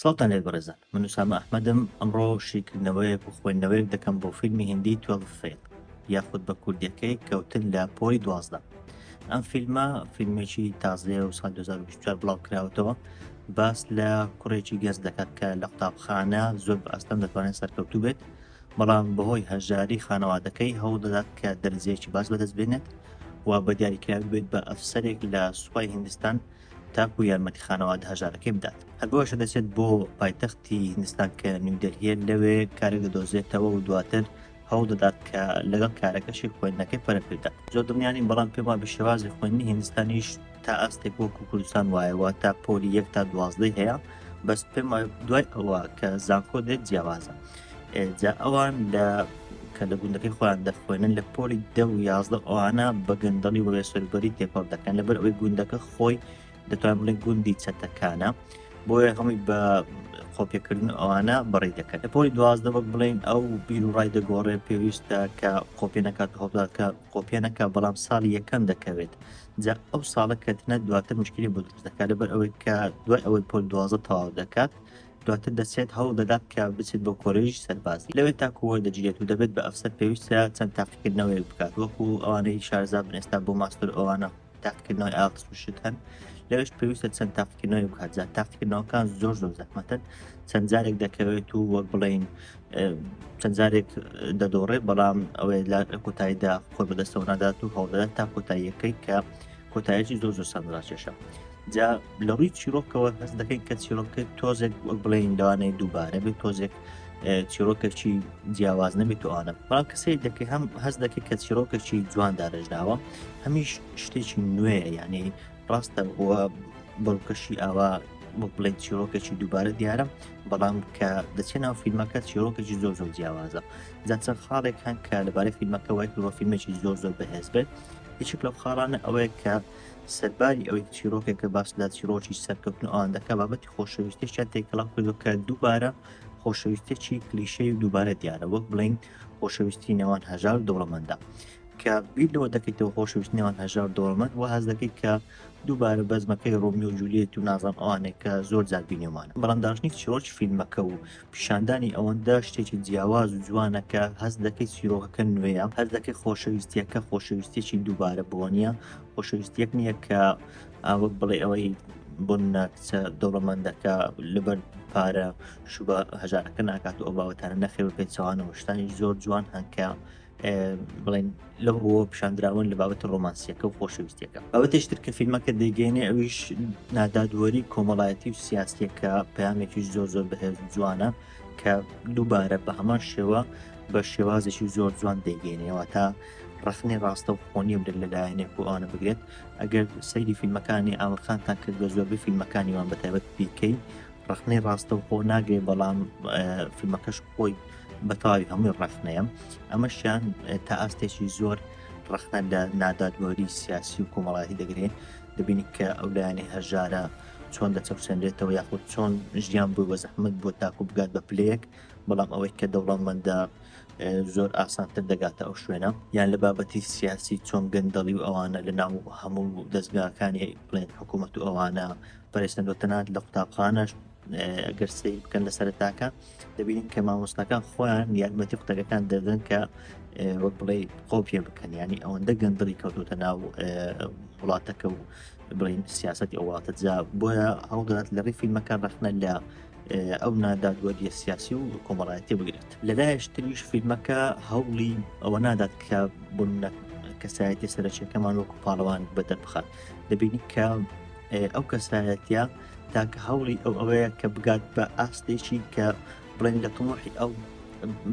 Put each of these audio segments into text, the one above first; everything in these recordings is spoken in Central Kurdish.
سڵاوتان لێت بەڕێزان من وسامە ئەحمەدم ئەمڕۆ شیکردنەوەیەک و خوێندنەوەیەک دەکەم بۆ فیلمی هندی توفیل یاخود بە کوردەکەی کەوتن لە پۆی دوازدە ئەم فیلمە فیلمێکی تازەیە و سال 2024 بڵاو کراوەتەوە باس لە کوڕێکی گەز دەکات کە لە قوتابخانە زۆر بە ئەستەم دەتوانێت سەرکەوتوو بێت بەڵام بەهۆی هەژاری خانەوادەکەی هەوڵدەدات کە دەرزیەکی باش بەدەست بێنێت و بە دیاریکراوی بێت بە ئەفسەرێک لە سوپای هندستان تاکو یارمەتی خانەوادە هەژارەکەی بدات هەروەشە دەچێت بۆ پایتەختی هندستان کە نیودەلهیە لەوێ کارێک دەدۆزێتەوە و دواتر هەوڵ دەدات کە لەگەڵ کارەکەشی خوێندنەکەی پەرەپێدا زۆر دڵنیانی بەڵام پێما بە شێوازی خوێندنی هندستانیش تا ئاستێک وەکو کوردستان وایەوە تا پۆلی یەک تا دوازدەی هەیە بەس پێما دوای ئەوە کە زانکۆ دێت جیاوازە جا ئەوان لە کە لە گوندەکەی خۆیان دەخوێنن لە پۆلی دە و یازدە ئەوانە بە گەندەڵی وەێ سەربەری تێکۆڵ دەکەن لەبەر ئەوەی گوندەکە خۆی دەتوان بڵێن گوندی چەتەکانە بۆیە هەمووی بە قۆپێکردن ئەوانە بەڕی دەکەن لە پۆلی دوازدە بەک بڵین ئەو بیر و ڕای دەگۆڕێ پێویستە کە قۆپێ نکات هەڵدا کە قۆپێ نەکە بەڵام ساڵی یەکەم دەکەوێت جا ئەو ساڵە کەتنە دواتر مشکلی بۆ دروست دەکات لەبەر ئەوەی کە دوای ئەوەی پۆل دوازە تەواو دەکات دواتر دەسرێت هەوڵ دەدات کە بچێت بۆ کۆلێژی سەربازی لەوێ تاکو وەردەگیرێت و دەبێت بە ئەفسەر پێویستە چەند تاقیکردنەوەیەک بکات وەکو ئەوانەی شارەزا بن ئێستا بۆ ماستەر ئەوانە تاقیکردنەوەی ئاڵتس و شت هەن لەوێش پێویستە چەند تاقیکردنەوەی بکات جا تاقیکردنەوەکان زۆر زۆر زەحمەتن چەند جارێک دەکەوێت و وەک بڵین چەند جارێک دەدۆڕێ بەڵام ئەوێ لە کۆتاییدا خۆ بەدەستەوە نادات و هەوڵدەدات تا کۆتاییەکەی کە کۆتایەکی زۆر زۆر سەرڕاکێشە جا لە ڕووی چیرۆکەوە هەست دەکەین کە چیرۆکە تۆزێک وەک بڵێن لەوانەیە دووبارە بێت تۆزێک چیرۆکەکی جیاواز نەبێت توانە بەڵام کەسی دەکە هەم هەست دەکەێت کە چیرۆکەکی جوان دارەژداوە هەمیش شتێکی نوێ یعنی ڕاستە بووە بەڵکەشی ئاوا وەک بڵێن چیرۆکەکی دووبارە دیارە بەڵام کە دەچێت ناو فیلمەکە چیرۆکەکی زۆر زۆر جیاوازە جاچەند خاڵێک هەن کە لەبارەی فیلمەکە وای پرۆفیلمێکی زۆر زۆر بەهێز بێت هیچک لەو خاڵانە ئەوەیە کە سەرباری ئەوەی چیرۆکێکە باس لە چیرۆکی سەرکەوتن و ئەوان دەکە بابەتی خۆشەویستێکیان تێکەڵاو کردو کە دووبارە خۆشەویستێکی کلیشەی و دووبارە دیارە وەک بڵین خۆشەویستی نێوان هەژار دەوڵەمەندە کە بیر لەوە دەکەیتەوە خۆشەویست نێوان هەژار دەوڵەمەند و هەز دەکەیت کە دووبارە بەزمەکەی ڕۆمی و جولیت و نازان ئەوانێک کە زۆر جار بینێمانە بەڵام داشتنی چیرۆکی فیلمەکە و پیشاندانی ئەوەندە شتێکی جیاواز و جوانە کە هەست دەکەی چیرۆکەکە نوێیە هەست دەکەی خۆشەویستیەکە خۆشەویستێکی دووبارە بووە نیە خۆشەویستیەک نییە کە ئاوەک بڵێ ئەوەی بۆ ناکچە دەوڵەمەندەکە لەبەر پارە شوبە هەژارەکە ناکات و ئەو باوەتانە نەخێ بە پێچوانەوە شتانی زۆر جوان هەنکە بڵێن لەو ڕووە پیشاندراون لە بابەتە ڕۆمانسیەکە و خۆشەویستەکە ئەوەتەش تر کە فیلمەکە دەگەێنێ ئەویش نادادوەری کۆمەڵایەتی و سیاسیەکە پامێکیش زۆر زۆر بەهێز جوانە کە دووبارە بە هەمان شێوە بە شێوازێکی زۆر جوان دەگەێنەوە تا ڕخنی ڕاستە و خۆنیە بدە لەلایەنێک و ئەوانە بگرێت ئەگەر سەیری فیلمەکانی ئاوەخانتان کرد بە زۆربەی فیلمەکانیوان بەتابەت پیکەی ڕەخنەی ڕاستەوخۆ ناگرێت بەڵام فیلمەکەش خۆی بەتەواوی هەمووی ڕەخنەیە ئەمەشیان تا ئاستێکی زۆر ڕەخنە لە نادادوەری سیاسی و کۆمەڵایەتی دەگرێت دەبینی کە ئەو لایەنی هەژارە چۆن دەچەوسێنرێتەوە یاخود چۆن ژیان بووی بە زەحمت بۆ تاکو بگات بە پلەیەک بەڵام ئەوەی کە دەوڵەمەندە زۆر ئاسانتر دەگاتە ئەو شوێنە یان لە بابەتی سیاسی چۆن گەندەڵی و ئەوانە لە ناو هەموو دەستگاکانی بڵێن حکوومەت و ئەوانە بەڕێزتان لۆ تەنات لە قوتابخانەش ئەگەر سری بکەن لە سەرتاکە دەبینین کە مامۆستاکان خۆیان یارمەتی قوتەکەتان دەدەن کە وەک بڵێ خۆ پێ بکەن ینی ئەوەندە گەندڵی کەوتوتە ناو وڵاتەکە و بڵین سیاستی ئەو وڵاتە جا بۆیە هەوڵدات لە ڕیفی مەکان ڕخنە لە ئەو نادادوەریە سیاسی و کۆمەڵایەتی بگرێت لەلایش تریش فیلمەکە هەوڵی ئەوە نادات کە بوون کەسایەتی سەرچەکەمان وەکو پاڵەوان بەدەربخات دەبینی کە ئەو کەسایەتە تاکە هەوڵی ئەو ئەوەیە کە بگات بە ئاستێکی کە بڵێن لە تمۆحی ئەو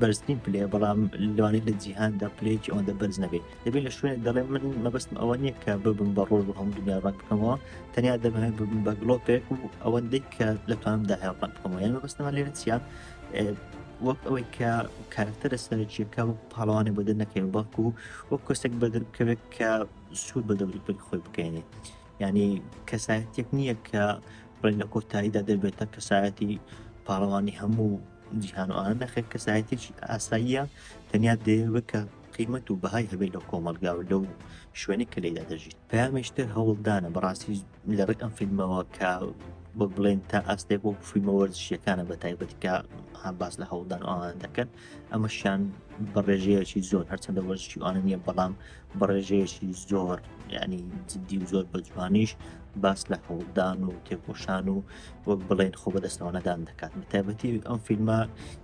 بەرزترین پلێ بەڵام لەوانی لە جیهاندا پلێکی ئەوەندە بەرز نەبێت دەبێت لە شوێن دەڵێ من مەبستم ئەوە نییە کە ببم بە ڕۆژ هەم دنیا ڕەت بکەمەوە تەنیا دەمەوێ ببم بە گلۆپێک و ئەوەندەی کە لە توانمدا هەڵ ڕەت بکەمەوە یان مەبستمە لێرە چیە وەک ئەوەی کە کارکتەرە سەرچیەکە و پاڵوانێ بەدە نەکەێت بەڵکو وەک کەسێک بەدەکەوێت کە سوود بە دەوری پێک خۆی بکەێنێت یعنی کەسایەتێک نییە کە بڵێن لە کۆتاییدا دەبێتە کەسایەتی پاڵەوانی هەموو جیهانوانە نەخێت کەسایەتێکی ئاساییە تەنیا دەیەوە کە قیمەت و بەهای هەبێت لە کۆمەلگا و لەو شوێنی کە لێدا دەژیت پامێشتر هەوڵدانە بەڕاستی لە ڕێک ئەم فیلمەوە کە بە بڵێن تا ئاستێک وەک فیلمە وەرزشیەکانە بە تایبەتکە باس لە هەوڵدان ئەوان دەکەن ئەمەشیان بە ڕێژەیەکی زۆر هەرچەندە وەرزشی ئەوانە نیە بەڵام بەڕێژەیەکی زۆر ینی جددی و زۆر بەجوانیش باس لە هەوڵدان و تێکۆشان و وەک بڵێن خۆ بەدەستەوەنەدان دەکات تایبەتی ئەم فیلمە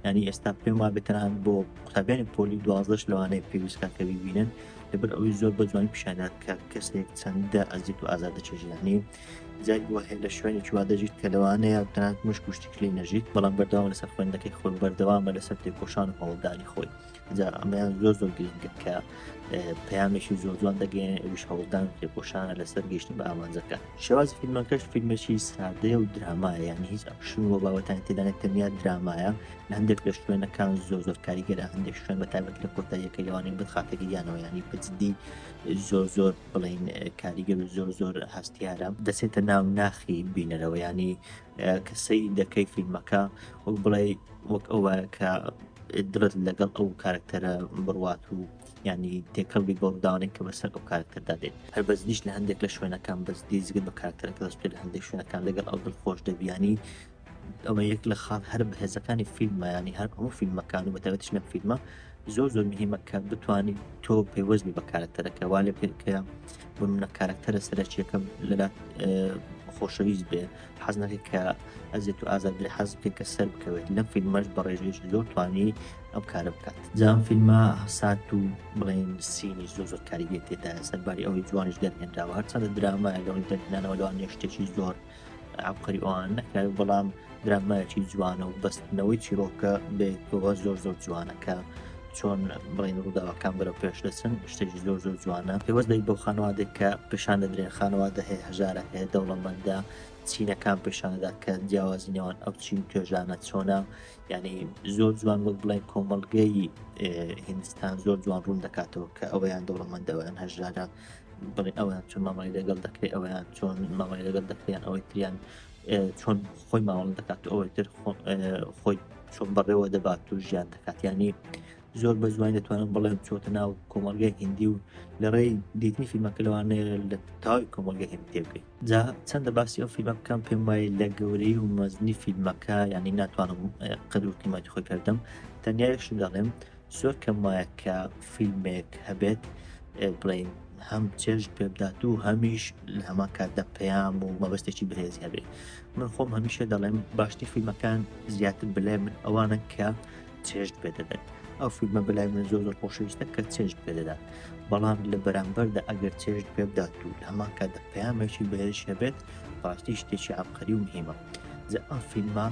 ینی ئێستا پێما بتران بۆ قوتابیانی پۆلی دوازدەش لەوانەیە پێویستکەکەوی بینن لەبەر ئەوەی زۆر بە جوانی پیشانات کە کەسێک چەندە ئەزیت و ئازادە چێژانی جاری وە هەیە لە شوێنی چوا دەژیت کە لەوانەیە تەنات مش کوشتیکلی نەژیت بەڵام بەردەوام لەسەر خوێندەکەی خۆی بەردەوامە لەسەر تێکۆشان و هەوڵدانی خۆی جا ئەمەیان زۆر زۆر گرنگە کە پەیامێکی زۆر جوان دەگەێن ئەوش هەوڵدان تێکۆشانە لەسەر گەشتن بە ئامانجەکە شێواز فیلمەکەش فیلمێکی سادەیە و درامایە یان هیچ ئەکشن و باوەتان تێدانە تەنیا درامایە لە هەندێک لە شوێنەکان زۆر زۆر کاریگەرە هەندێک شوێن بە تابەت لە کۆتاییەکە لەوانین بخاتەگەیانەوە ینی بەجددی زۆر زۆر بڵین کاریگەر و زۆر زۆر هەستیارە دەچێتە ناو ناخی بینەرەوەیانی کە سەیری دەکەی فیلمەکە وەک بڵێ وەک ئەوە کە درت لەگەڵ ئەو کارکتەرە بڕوات و ینی تێکەڵ بی گۆڵدانێک کە بەسەر ئەو کارکتەردا دێت هەر بەس نیش لە هەندێک لە شوێنەکان بەس دیزگت بە کارکتەرەکە دەست پێ لە هەندێک شوێنەکان لەگەڵ ئەو دڵ خۆش دەبیانی ئەوە یەک لە خاڵ هەر بەهێزەکانی فیلممەیانی هەر هەموو فیلمەکان و بەتەوەتش لە فیلمە زۆر زۆر مهمە کە بتانی تۆ پەیوەست بی بە کارکتەرەکە وا لە پێکە بمنە کارەکتەرە سەرەکیەکە لەلا خۆشەویست بێ حەز نەکە کە ئەزێت و ئازاد لە حەز بکە کە سەر بکەوێت لەم فیلمەش بە ڕێژێش زۆر توانی ئەم کارە بکات جام فیلمە هەسات و بڵێن سینی زۆر زۆر کاریگەی تێدا سەرباری ئەوەی جوانیش دەرهێنراوە هەرچەندە درامایە لەوەی دەرهێنانەوە لەوان نێشتێکی زۆر عبقری ئەوان نەکرا بەڵام درامایەکی جوانە و بەستنەوەی چیرۆکە بێتەوە زۆر زۆر جوانەکە چۆن بڵین ڕووداوەکان بەرە پێش دەچن شتێکی زۆر زۆر جوانە پێوەست دەی بۆ خانوادێک کە پیشان دەدرێن خانوادە هەیە هەژارە هەیە دەوڵەمەندە چینەکان پیشانەدا کە جیاوازی نێوان ئەو چین توێژانە چۆنا یعنی زۆر جوان وەک بڵێن کۆمەلگەی هندستان زۆر جوان ڕوون دەکاتەوە کە ئەویان دەوڵەمەندەوەیان هەژارە بڵێ ئەویان چۆن مامای لەگەڵ دەکرێت ئەویان چۆن مامای لەگەڵ دەکریان ئەوەی تریان چۆن خۆی ماوەڵ دەکات ئەوەی تر خۆی چۆن بەڕێوە دەبات و ژیان دەکاتیانی زۆر بە زوان دەتوانم بڵێم چۆتە ناو کۆمەلگای هندی و لە ڕێی دیتنی فیلمەکە لەوانەیە لە تاوی کۆمەلگە هێم تێبگەین جا چەندە باسی ئەو فیلمە بکەم پێم وایە لە گەورەی و مەزنی فیلمەکە ینی ناتوانم قەدوکیمەتی خۆی کردم تەنیایش دەڵێم زۆر کەم وایە کە فیلمێک هەبێت بڵین هەم چێژ پێبدات و هەمیش لە هەما کاتدا پەیام و مەبەستێکی بەهێز هەبێت من خۆم هەمیشە دەڵێم باشتر فیلمەکان زیاتر بلێ من ئەوانە کە چێژ پێ دەدەن ئەو فیلمە بلای من زۆر زۆر خۆشەویستە کە چێژ پێ دەدات بەڵام لە بەرامبەردا ئەگەر چێژ پێ بدات و لە هەما کاتدا پەیامێکی بەهێش هەبێت باشتی شتێکی عبقەری و مهمە زە ئەم فیلمە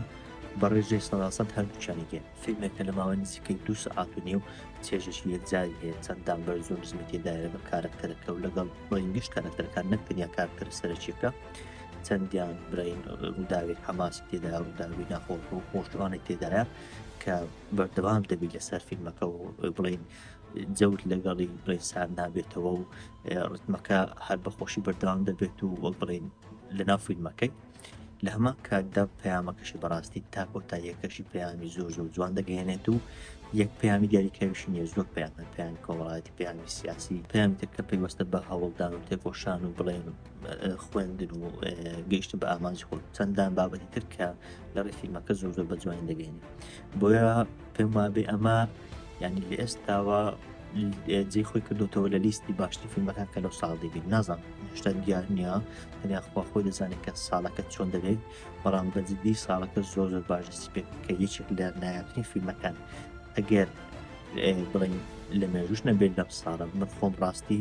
بەڕێژێ سەداسەد هەردووچانی گێت فیلمێکە لە ماوەی نزیکەی دوو سەعات و نیو چێژێکی یەکجاری هەیە، چەند دانبەر زۆر نزمی تێدایە لەگەڵ کارەکتەرەکە و لەگەڵ برەین گشت کارەکتەرەکان نەک تەنیا کارەکتەرە سەرەکیەکە، چەندیان برەین ڕووداوی حەماسی تێدایە ڕووداوی ناخۆش و خۆشوانێک تێدایە کە بەردەوام دەبیت لەسەر فیلمەکە و بڵین جەوت لەگەڵی بڵین سار نابێتەوە و ڕتمەکە هەر بەخۆشی بەردەوام دەبێت و وەک بڵین لەناو فیلمەکەی لە هەمان کاتدا پەیامەکەشی بەڕاستی تا کۆتاییەکەشی پەیامی زۆر زۆر جوان دەگەێنێت و یەک پەیامی دیاریکراویشی نیە زۆر پەیامە پەیامی کۆمەڵایەتی پەیامی سیاسی پەیامی تر کە پەیوەستە بە هەوڵدان و تێکۆشان و بڵێن خوێندن و گەیشتن بە ئامانج خۆ چەندان بابەتی تر کە لە ڕێ فیلمەکە زۆر زۆر بە جوانی دەگەێنێت بۆیە پێم وابێ ئەمە یعنی لە ئێستاوە جێ خۆی کردوتەوە لە لیستی باشتر فیلمەکان کە لەو ساڵ دەبین نازان شتا دیار نییە هەنیا خوا خۆی دەزانێت کە ساڵەکە چۆن دەبێت بەڵام بەجددی ساڵەکە زۆر زۆر باش دەستی پێ کە یەکێک لە نایاتنی فیلمەکان ئەگەر بڵین لە مێژوش نەبێت لەم ساڵە من خۆم ڕاستی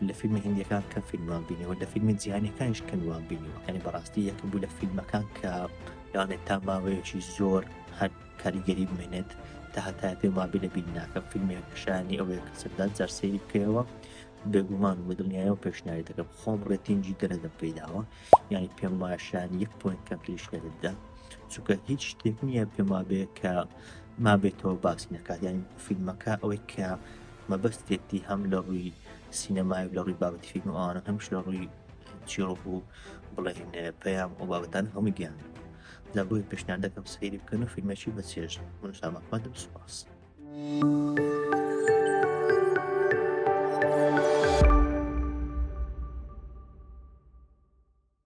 لە فیلمی هندیەکان کە فیلمان بینیەوە لە فیلمی جیهانەکانش کەنوان بینیەوە هەنی بەڕاستی یەکە بوو لە فیلمەکان کە یانێت تا ماوەیەکی زۆر هەر کاریگەری بمێنێت تاهەتایە پێم وابێ لە بینی ناکەم فیلمێک شایانی ئەوەیە کە سەردات جار سەیری بکەیەوە بێگومان و بەدڵنیایە و پێشنیاری دەکەم خۆم ڕێتینجی دەرەدەم پێیداوە یعنی پێم وایە شایانی یەک پوینت کەمتریش لێ دەدا چونکە هیچ شتێک نییە پێم وابێ کە مابێتەوە باسی نەکات یعنی فیلمەکە ئەوەی کە مەبەستێتی هەم لە ڕووی سینەمای و لە ڕووی بابەتی فیلم و ئەوانە هەمش لە ڕووی چیڕۆک و بڵێن پەیام و بابەتان هەموو گیان لە بۆی پێشنیار دەکەم سەیری بکەن و فیلمێکی بە چێژ من شامەخواتم سوپاس.